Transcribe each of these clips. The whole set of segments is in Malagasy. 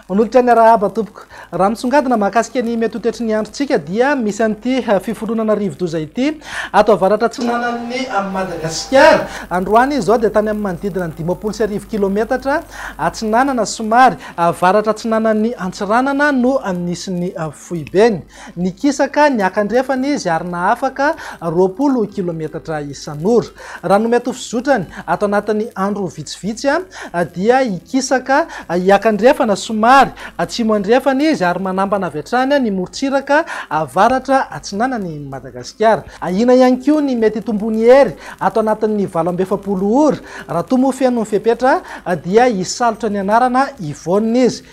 Manolotra ny arahaba tompoko. Raha misongadina mahakasika ny mety ho toetry ny androntsika dia misy an'ity eh, fiforonana rivodoza ity ato avaratra atsinanan'ny eh, Madagasikara. Androany izao dia tany amin'ny manodidina ny dimampolo sy arivo kilometatra atsinanana somary avaratra atsinanan'ny Antsiranana no nisy ny eh, Foibeny. Nikisaka niaka andrefana izy ary nahafaka roapolo kilometatra isan'ora. Raha ny mety ho fizotrany, ato anatin'ny andro vitsivitsy dia hikisaka hiaka andrefana somary atsimo andrefana izy ary manambana avy hatrany ny morontsiraka avaratra atsinanan'i Madagasikara. Ahiana ihany koa ny mety hitomboan'ny hery ato anatin'ny valo amby efapolo ora raha toa moa feno ny fepetra dia hisalotra ny anarana Yvonne izy.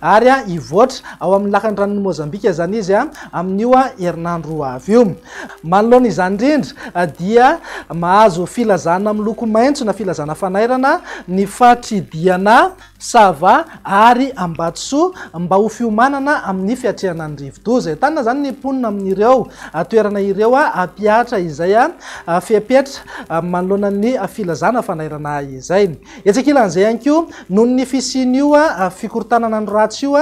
ary hivoatra ao amin'ny lakan'ny ranon'i Mozambika izany izy amin'io herinandro ho avy io. Manoloana izany indrindra dia mahazo filazana miloko maitso na filazana fanairana ny faritr'i Diana, Sava ary Ambatosoa mba ho fiomanana amin'ny fiatrehana ny rivodoza. Entanina izany ny mponina amin'ireo toerana ireo hampihatra izay fepetra manoloana ny filazana fanairana izay. Etsy ankilan'izay ihany koa, noho ny fisian'io fikorontanana ny ratsy io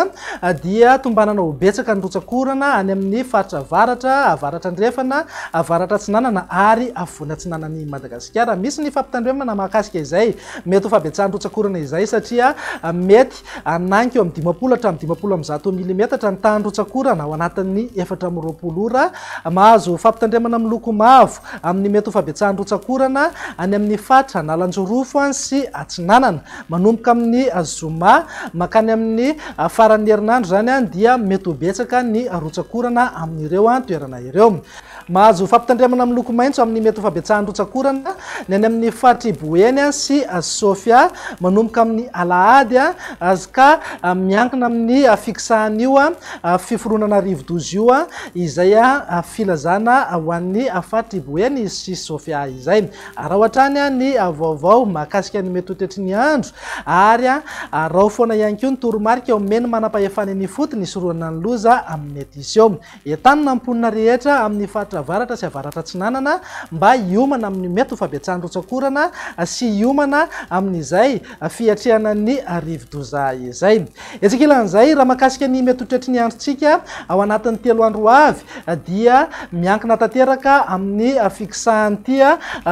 dia tombanana ho betsaka ny rotsak'orana any amin'ny faritra avaratra, avaratra andrefana, avaratra atsinanana ary afovoany atsinanan'i Madagasikara. Misy ny fampitandremana mahakasika izay mety ho fahabetsahan'ny rotsak'orana izay satria mety. Anagniko amin'ny dimampolo hatramin'ny dimampolo amby zato milimetatra ny tahan'ny rotsak'orana ao anatin'ny efatra amby roapolo ora. Mahazo fampitandremana miloko mavo amin'ny mety ho fabetsahan'ny rotsak'orana any amin'ny faritra Analanjirofo sy Atsinanana. Manomboka amin'ny zoma mankany amin'ny faran'ny herinandro izany dia mety ho betsaka ny rotsak'orana amin'ireo toerana ireo. Mahazo fampitandremana miloko maitso amin'ny mety ho fabetsahan'ny rotsak'orana ny any amin'ny faritr'i Boeny sy Sofia manomboka amin'ny alahady sy ka miankina amin'ny fikisahan'io fiforonana rivodoza io izay filazana ho an'ny faritr'i Boeny sy Sofia izay. Araho hatrany ny vaovao mahakasika ny mety ho toetry ny andro ary araho foana ihany koa ny toromarika omen'ny manam-pahefana eny ifotony hisorohana ny loza mety hiseo. Entanina ny mponina rehetra amin'ny faritra avaratra sy avaratra atsinanana mba hiomana amin'ny mety ho fabetsahan'ny rotsak'orana sy hiomana amin'izay fiatrehana ny rivodoza izay. Etsy ankilan'izay, raha mahakasika ny mety ho toetry ny androntsika ao anatin'ny telo andro ho avy dia miankina tanteraka amin'ny fikisahan'ity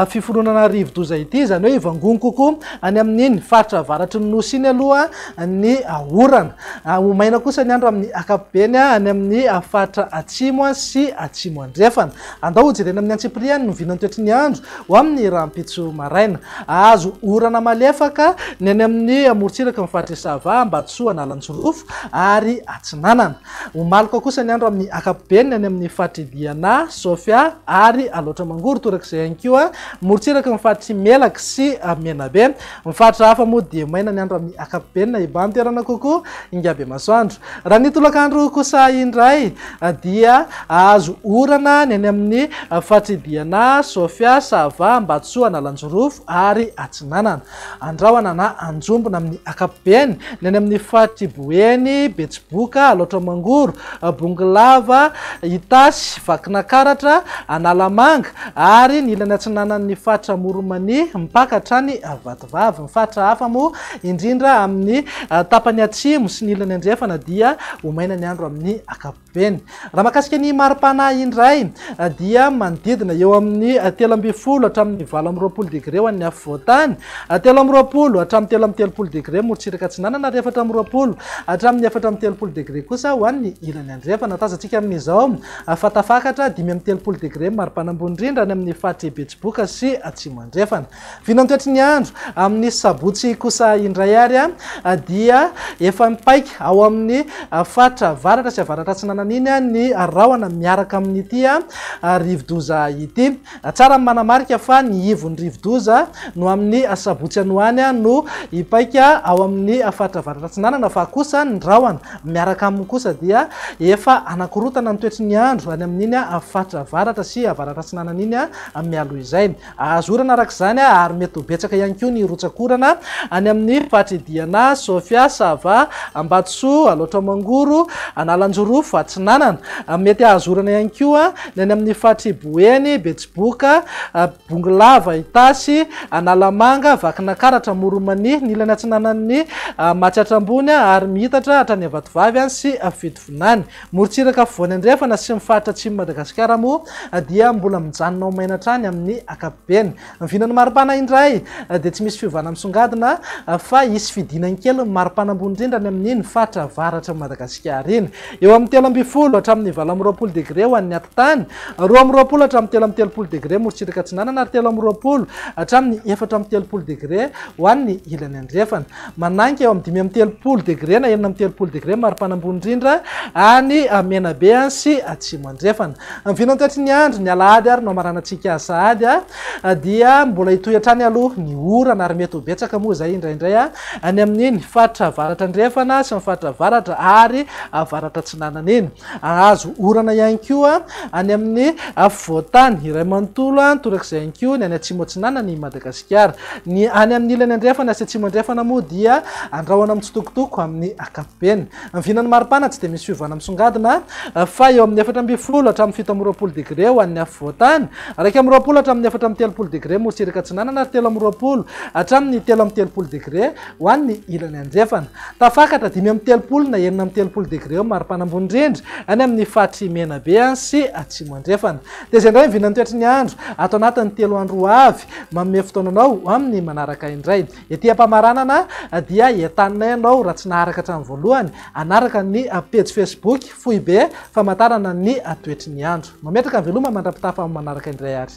fiforonana rivodoza ity, izany hoe hivangongo kokoa any amin'iny faritra avaratry ny Nosy iny aloha ny orana. Ho maina kosa ny andro amin'ny ankapobeny any amin'ny faritra atsimo sy atsimo andrefana. Andao hojerena amin'ny antsipiriany ny oviana ny toetry ny andro ho amin'ny rahampitso maraina. Hahazo orana malefaka ny any amin'ny morontsiraka ny faritr'i Sava, Ambatosoa, Analanjirofo ary Atsinanana. Ho maloka kosa ny andro amin'ny ankapobeny ny any amin'ny faritr'i Diana, Sofia ary Alaotra Mangoro, torak'izay ihany koa morontsiraky ny faritr'i Melaky sy Menabe. Ny faritra hafa moa dia maina ny andro amin'ny ankapobeny na iban-toerana kokoa ingabemasoandro. Raha ny tolakandro kosa indray dia hahazo orana ny any amin'ny faritr'i Diana, Sofia, Sava, Ambatosoa, Analanjirofo ary Atsinanana. Andrahona na anjombona amin'ny ankapobeny ny any amin'ny faritr'i Boeny, Betsiboka, Alaotra Mangoro, Bongolava, Itasy, Vakinakaratra, Analamanga ary ny ilany atsinanan'ny faritra Amoronmania mpaka hatrany Vatovavy. Ny faritra hafa moa indrindra amin'ny tapany atsimo sy ny ilany andrefana dia ho maina ny andro amin'ny ankapobeny. Raha mahakasika ny mari-pana indray dia manodidina eo amin'ny telo ambin'ny folo hatramin'ny valo amby roapolo degre ho an'ny afovoantany Telo amby roapolo hatramin'ny telo amby telopolo degre morontsiraka atsinanana ary efatra amby roapolo hatramin'ny efatra amby telopolo degre kosa ho an'ny ilany andrefana. Tazantsika amin'izao fa tafakatra dimy amby telopolo degre maripana ambony indrindra any amin'ny faritr'i Betsiboka sy Atsimo Andrefana. Vinantoetry ny andro amin'ny sabotsy kosa indray ary dia efa mipaika ao amin'ny faritra avaratra sy avaratra atsinanana iny ny rahona miaraka amin'ity rivodoza ity. Tsara ny manamarika fa ny ivon'ny rivodoza no amin'ny asabotsy any ho any no hipaika ao amin'ny faritra Avaratra Atsinanana fa kosa ny rahona miaraka aminy kosa dia efa hanakorontana ny toetry ny andro any amin'iny faritra Avaratra sy Avaratra Atsinanana iny mialoha izay hahazorana araka izany ary mety ho betsaka ihany koa ny rotsakorana any amin'ny faritry Diana, Sofia, Sava, Ambatosoa, Alaotra Mangoro, Analanjorofo Atsinanana mety hahazorana ihany koa Ny any amin'ny faritry Boeny, Betsiboka, Bongolava, Itasy, Analamanga, Vakinankaratra, Amoronmania, ny ilany atsinanan'ny Matsiatra Ambony ary miitatra hatrany Avatovavy any sy Fitovinany. Morontsiraka afovoany andrefana sy ny faritra atsimon'i Madagasikara moa dia mbola mijanona ho maina hatrany amin'ny ankapobeny. Ny vinan'ny maripana indray dia tsy misy fiovana misongadina fa hisy fidinany kely ny maripana ambony indrindra any amin'iny faritra avaratry ny Madagasikara iny. Eo amin'ny telo ambin'ny folo hatramin'ny valo amby roapolo degre ho an'ny atitany, roa amby roapolo hatramin'ny telo amby telopolo degre morotsiraka atsinanana ary telo amby roapolo hatramin'ny efatra amby telopolo degre ho an'ny ilany andrefana. Manangy eo amin'ny dimy amby telopolo degre na enina amby telopolo degre mari-pana ambony indrindra any Menabe sy Atsimo Andrefana. Ny vintany taitry ny andro, ny alahady ary no hamaranantsika sahady, dia mbola hitohy hatrany aloha ny orana ary mety ho betsaka moa izay indraindray any amin'iny faritra avaratra andrefana sy ny faritra avaratra ary avaratra atsinanana iny. Hahazo orana ihany koa any amin'ny afovoan-tany iray manontolo torak'izay ihany koa ny any Atsimo Atsinanana i Madagasikara. Ny any amin'ny ilany andrefana sy atsimo andrefana moa dia andrahona mitsitokotoko amin'ny ankapobeny. Ny vinan'ny maripana tsy dia misy fiovana misongadina fa eo amin'ny efatra ambin'ny folo hatramin'ny fito amby roapolo degre ho an'ny afovoan-tany, iraika amby roapolo hatramin'ny efatra amby telopolo degre morotsiraka atsinanana ary telo amby roapolo hatramin'ny telo amby telopolo degre Ho an'ny ilany andrefana, tafakatra dimy amby telopolo na enina amby telopolo degre eo ny mari-panambony indrindra any amin'ny faritry Menabe sy Atsimo Andrefana. Tezay indray ny vinan'ny toetry ny andro ato anatin'ny telo andro ho avy. Manome fotoana anao ho amin'ny manaraka indray. Ety am-pamaranana dia entaninay anao raha tsy naharaka hatramin'ny voalohany hanaraka ny pejy Facebook Foibe famantarana ny toetry ny andro. Mametraka ny veloma mandra-pitafa amin'ny manaraka indray ary.